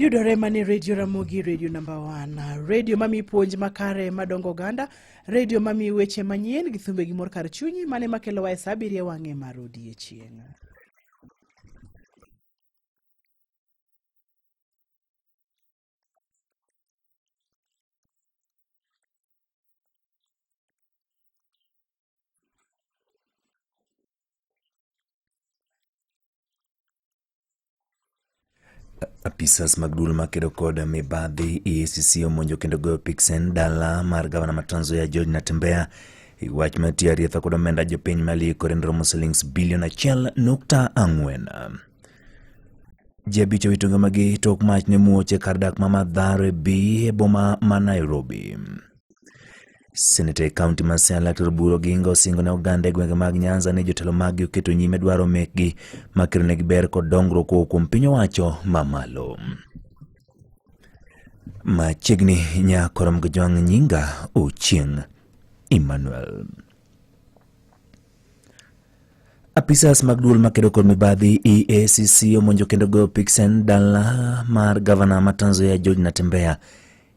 yudore mane redio ramogi redio namba wan redio mami puonj makare madongo oganda redio mami weche manyien gi thumbe gi mor kar chunyi mane makelowa e sa abiriyo wang'e mar odiechieng' Apisas mag duol makedo kod mibadhi EACC omonjo kendo goyo piksen dala mar gavana ma Trans Nzoia George Natembeya e wach ma tiyo arietha kod omenda jopiny ma liikore ni romo silings bilion achiel nukta ang'wen. Ji abich owito ngimagi tok mach ne muoch e kar dak ma Mathare B e boma ma Nairobi. Seneta e kaunti ma Siaya Laktar Oburu Oginga osingo ne oganda e gwenge mag Nyanza ni jotelo maggi oketo nyime dwaro mekgi makelo negi ber kod dongruok kowuok kuom piny owacho mamalo. Machiegni nyakorom gi jwang' nyinga Ochieng' Emmanuel. Apisas mag duol makedo kod mibadhi EACC omonjo kendo goyo piksen dala mar gavana ma Tanzania George Natembeya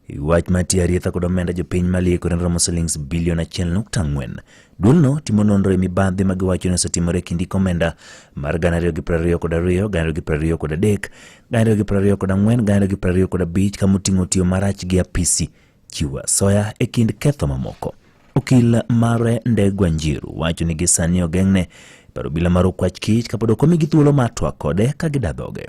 E wach ma tiyo arietha kod omenda jopiny ma liekore ne romo silings bilion achiel nukta ang'wen. Duolno timo nonro e mibadhi ma giwacho ni osetimore e kind iko omenda mar gana ariyo gi piero ariyo kod ariyo, gana ariyo gi piero ariyo kod adek, gana ariyo gi piero ariyo kod ang'wen, gana ariyo gi piero ariyo kod abich kama oting'o tiyo marach gi apisi chiwo asoya e kind ketho mamoko. Okil mare Ndegwa Njiru wacho ni gisani ogeng'ne paro obila mar okwach kich kapod ok omigi thuolo mar twak kode ka gidadhoge.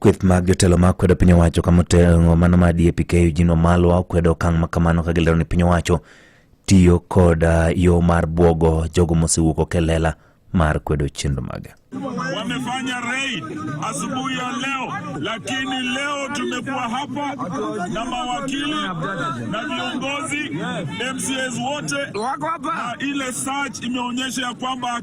Kweth mag jotelo ma kwedo piny owacho kama oting'o mano ma DAPK Eugene Wamalwa okwedo okang' ma kamano ka gilero ni piny owacho tiyo kod ah, yo mar bwogo jogo mosewuok ok e lela mar kwedo chenro mage. wamefanya raid asubuhi ya leo, lakini leo tumekuwa hapa na mawakili na viongozi MCAs wote wako hapa. Ile search imeonyesha ya kwamba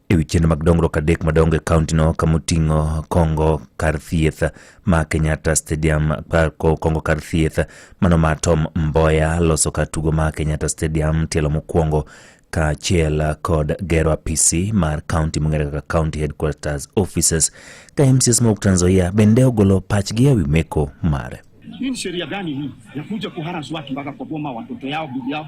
e wi chenro mag dongruok adek madongo e kauntino kama oting'o kongo kar thieth ma kenyatta stadium kongo kar thieth mano ma tom mboya loso kar tugo ma kenyatta stadium tielo mokwongo kaachiel kod gero apisi mar kaunti mong'ere kaka county headquarters offices ka mcs mawuok Trans Nzoia bende ogolo pachgi e wi meko mare hii ni sheria gani hii ya kuja kuharas watu mpaka kwa boma watoto yao bibi yao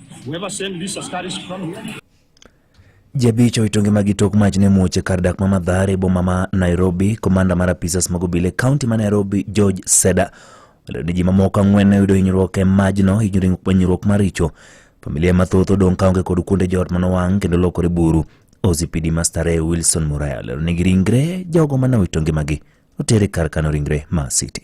Ji abich owito ngimagi tok mach ne muoch e kar dak ma Mathare e boma ma Nairobi. Komanda mar apisas mag obila e kaunti ma Nairobi George Seda olero ni ji mamoko ang'wen ne oyudo hinyruok e majno, hinyruok maricho. Familia mathoth odong' kaonge kod kuonde joot manowang' kendo lokore buru. OCPD ma Starehe Wilson Muraya olero ni ringre jogo mane owito ngimagi otere kar kano ringre ma City.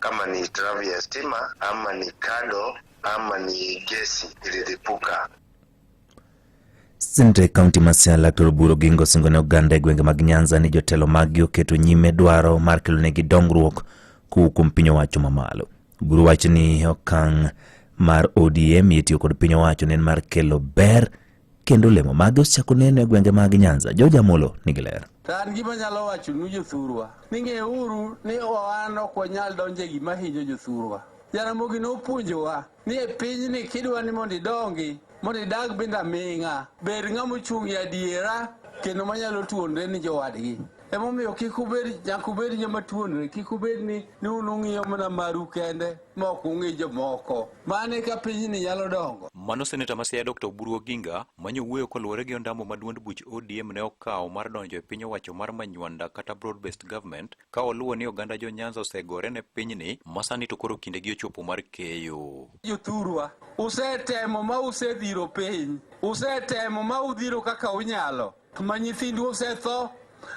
kama ni hitilafu ya stima ama ni kado ama ni gesi ililipuka. Sinte kaunti ma Siaya Dr. Oburu Oginga osingo ne oganda e gwenge mag Nyanza ni jotelo maggi oketo nyime dwaro mar kelonegi dongruok kowuok kuom piny owacho mamalo. Oburu wacho ni okang' mar ODM itiyo kod piny owacho ne en mar kelo ber kendo olemo mage osechako neno e gwenge mag Nyanza. George Amolo nigi ler. To an gima nyalo wacho nu jothurwa ni ng'euru ni wan ok wanyal donjo e gima hinyo jothurwa. Jaramogi nopuonjowa ni e pinyni kidwa ni mondo idongi mondo idag binda ming'a bed ng'ama ochung' e adiera kendo manyalo tuonre ni jowadgi. Emomiyo kik ubed nyaka ubed joma tuonore, kik ubed ni ni un ung'iyo mana maru kende ma ok ung'i jomoko. Mano e ka pinyni nyalo dongo. Mano seneta ma Siaya Dr. Oburu Oginga manyo wuoyo koluwore gi ondamo ma duond buch ODM ne okawo mar donjo e piny owacho mar Manywanda kata Broad Based Government ka oluwo ni oganda jo Nyanza osegore ne pinyni ma sani to koro kindegi ochopo mar keyo. Jothurwa, usetemo ma usedhiro piny, usetemo ma udhiro kaka unyalo. Ma nyithindu osetho,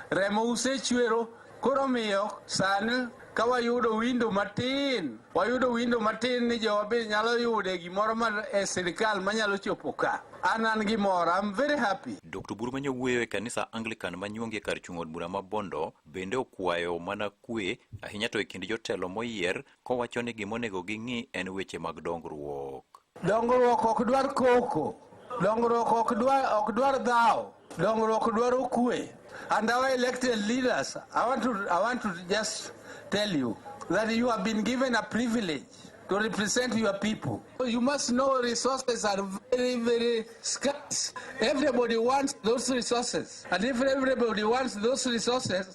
remo usechwero, koro omiyo sani ka wayudo windo matin, wayudo windo matin ni jowa be nyalo yude gimoro ma e sirikal manyalo chopo ka. An an gi mor, I'm very happy. Dr. Buru ma nyowuoyo e kanisa Anglican ma nyuongi e kar chung' od bura ma Bondo bende okwayo mana kwe ahinya to e kind jotelo moyier Kowacho ni gima onego ging'i en weche mag dongruok. Dongruok ok dwar koko, dongruok ok dwar, ok dwar dhawo, dongruok dwaro kwe. And our elected leaders, I want to, I want to just tell you that you have been given a privilege to represent your people. You must know resources are very, very scarce. Everybody wants those resources. And if everybody wants those resources,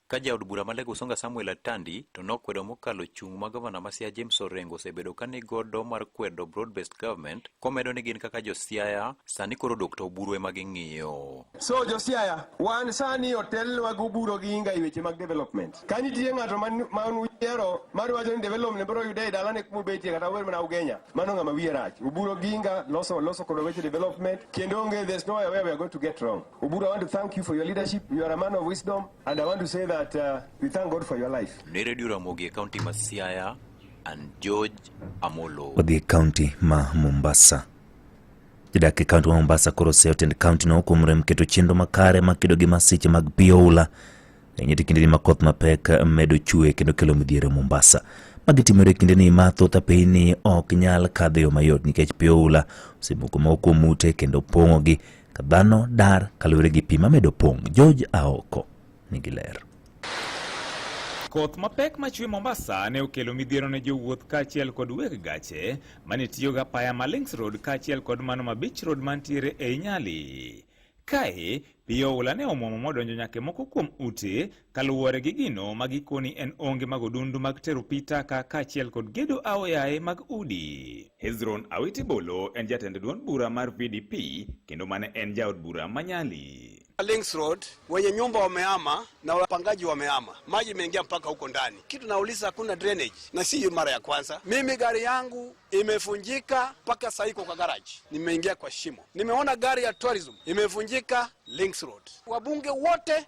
Ka jaod bura ma Lego Usonga Samuel Atandi to nokwedo mokalo chung' ma gavana ma Siaya James Orengo osebedo ka nigodo mar kwedo broad based government komedo ni gin kaka jo Siaya sani koro dok to oburu ema ging'iyo. So jo Siaya wan sani otelnwa gi oburu gi inga e weche mag development. Ka nitie ng'ato ma uyiero mar wacho ni development biro yude e dalane kuma obetie kata wer mana Ugenya mano ng'ama wiye rach. Oburu gi inga loso loso kod weche development kendo onge there's no way we are going to get wrong. Oburu, I want to thank you for your leadership. You are a man of wisdom, and I want to say that uh, we thank God for your life. Ni Radio Ramogi, County ma Siaya, and George Amolo. Wadhi kaunti ma Mombasa. Jodak e kaunti ma Mombasa koro oseotend kaunti no kuom rem keto chenro makare ma kedo gi masiche mag pi oula enyiti kindeni ma koth mapek medo chue kendo kelo midhiero Mombasa. Magi timore e kindeni ma thoth apeyini ok nyal kadho e yo mayot nikech pi oula osemoko moko kuom ute kendo pong'ogi Ka dhano dar kaluwore gi pi mamedo pong', George Aoko nigi ler. Koth mapek machwe Mombasa ne okelo midhiero ne jowuoth kaachiel kod weg gache mane tiyogo apaya ma Links Road kaachiel kod mano ma Beach Road mantiere ei Nyali. Kae, pi oula ne omwomo modonjo nyaka e moko kuom ute Kaluwore gi gino ma gikoni en onge mag odundu mag tero pi taka kaachiel kod gedo aoyaye mag udi. Hezron Awiti Bolo en jatend duond bura mar VDP kendo mane en jaod bura ma Nyali. Links Road wenye nyumba wamehama na wapangaji wamehama, maji imeingia mpaka huko ndani. Kitu nauliza hakuna drainage, na si mara ya kwanza. Mimi gari yangu imefunjika mpaka sasa iko kwa garage, nimeingia kwa shimo. Nimeona gari ya tourism imefunjika Links Road. Wabunge wote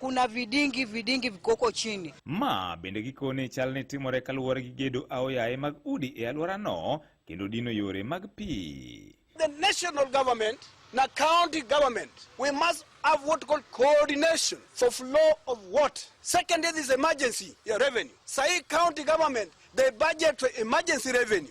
kuna vidingi vidingi vikoko chini. Ma bende gikone chal ne timore kaluwore gi gedo aoyaye mag udi e alworano kendo dino yore mag pi. The national government na county government we must have what called coordination for flow of what second is emergency ya revenue. Sahi county government they budget for emergency revenue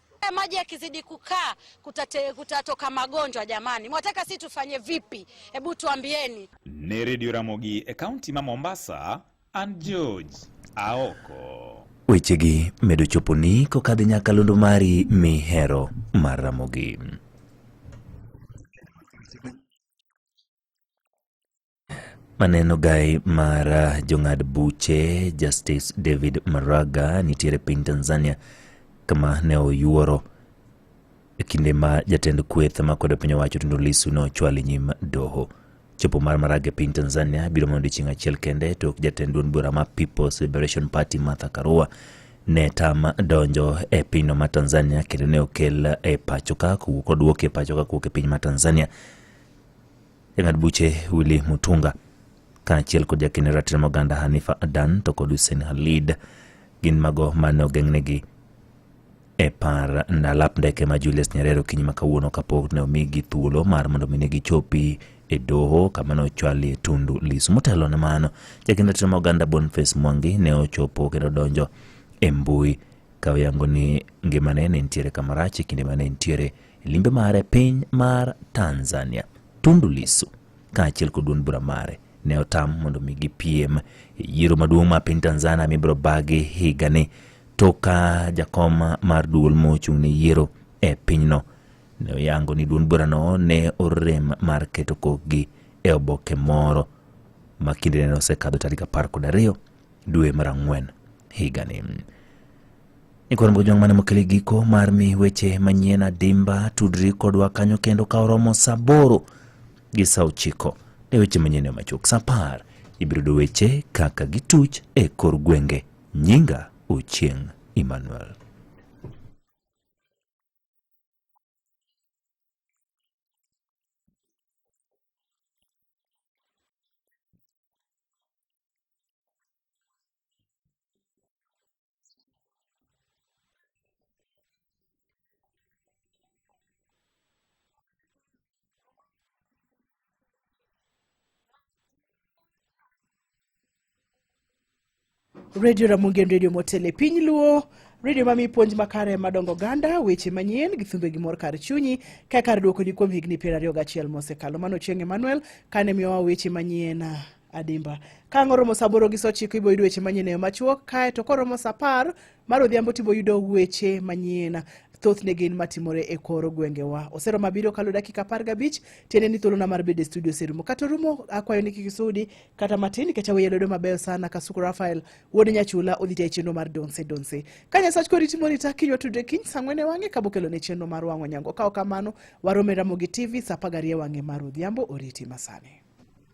Eh, maji yakizidi kukaa kutate, kutatoka magonjwa jamani, mwataka si tufanye vipi? Hebu tuambieni. Ni Radio Ramogi e kaunti ma Mombasa and George Aoko. Wechegi medo choponi kokadhi nyaka londo mari mihero mar Ramogi. Maneno gai mar ah, jong'ad buche Justice David Maraga nitiere piny Tanzania kama ne oyuoro e kinde ma jatend kweth ma kwedo piny owacho Tundu Lissu ne ochwal e nyim doho. Chopo mar Maraga e piny Tanzania biro mana odiechieng' achiel kende tok jatend duond bura ma People's Liberation Party Martha Karua ne tam donjo e pinyno ma Tanzania kendo ne okel e pachoka kowuok oduok e pachoka kowuok e piny ma Tanzania Jang'ad buche Willy Mutunga kaachiel kod jakene ratiro moganda Hanifa Adan to kod Hussein Halid gin mago mane ogeng'negi e par ndalap ndeke ma Julius Nyerere okinyi ma kawuono kapok ne omigi thuolo mar mondo mi ne gichopi e doho kama ne ochwalie Tundu Lissu. Motelo ne mano, jakend ratiro ma oganda Boniface Mwangi ne ochopo kendo donjo e mbui ka oyango ni ngimane ne nitiere kamarach e kinde ma ne nitiere E limbe mare e piny mar Tanzania, Tundu Lissu kaachiel kod duond bura mare ne otam mondo mi gipiem e yiero maduong' ma piny Tanzania mibiro bagi higani to ka jakom mar duol mochung' ne yiero e pinyno ne oyango ni duond burano ne orem mar keto kokgi e oboke moro ma kindene ne osekadho tarik apar kod ariyo dwe mar ang'wen higani. Ikoro moko jong' mane mokele giko mar mi weche manyien adimba tudri kodwa kanyo kendo ka oromo saa aboro gi saa ochiko e weche manyien e machuok saa apar ibiro yudo weche kaka gituch e kor gwenge. Nyinga Ochieng' Emmanuel. redio ramogi en redio motel e piny luo redio mamiyi puonj makare madongo ganda weche manyien gi thumbe gi mor kar chunyi ka kar dwokoni kuom higni piero ariyo gachiel mosekalo mano chieng' emmanuel kane miyowa weche manyien adimba kang' oromo saa aboro gi saa ochiko ibo yudo weche manyien eyo machuok kae to koromo saa apar mar odhiambo tibo yudo weche manyien thothne gin matimore e kor gwengewa osero mabiro kalo dakika apar gabich tiende ni thuolona mar bedo e studio oserumo kata orumo akwayo ni kik isudi kata matin nikech aweye lwedo mabeyo sana kasuku rafael wuod nyachula odhi tayo chenro mar donse donse ka nyasach kori timoni ta kinywa tudre kiny saa ang'wen e wang'e ka bokelo ne chenro mar wang'o nyango ka ok kamano warome ramogi tv saa apar gariyo e wang'e mar odhiambo oriti masani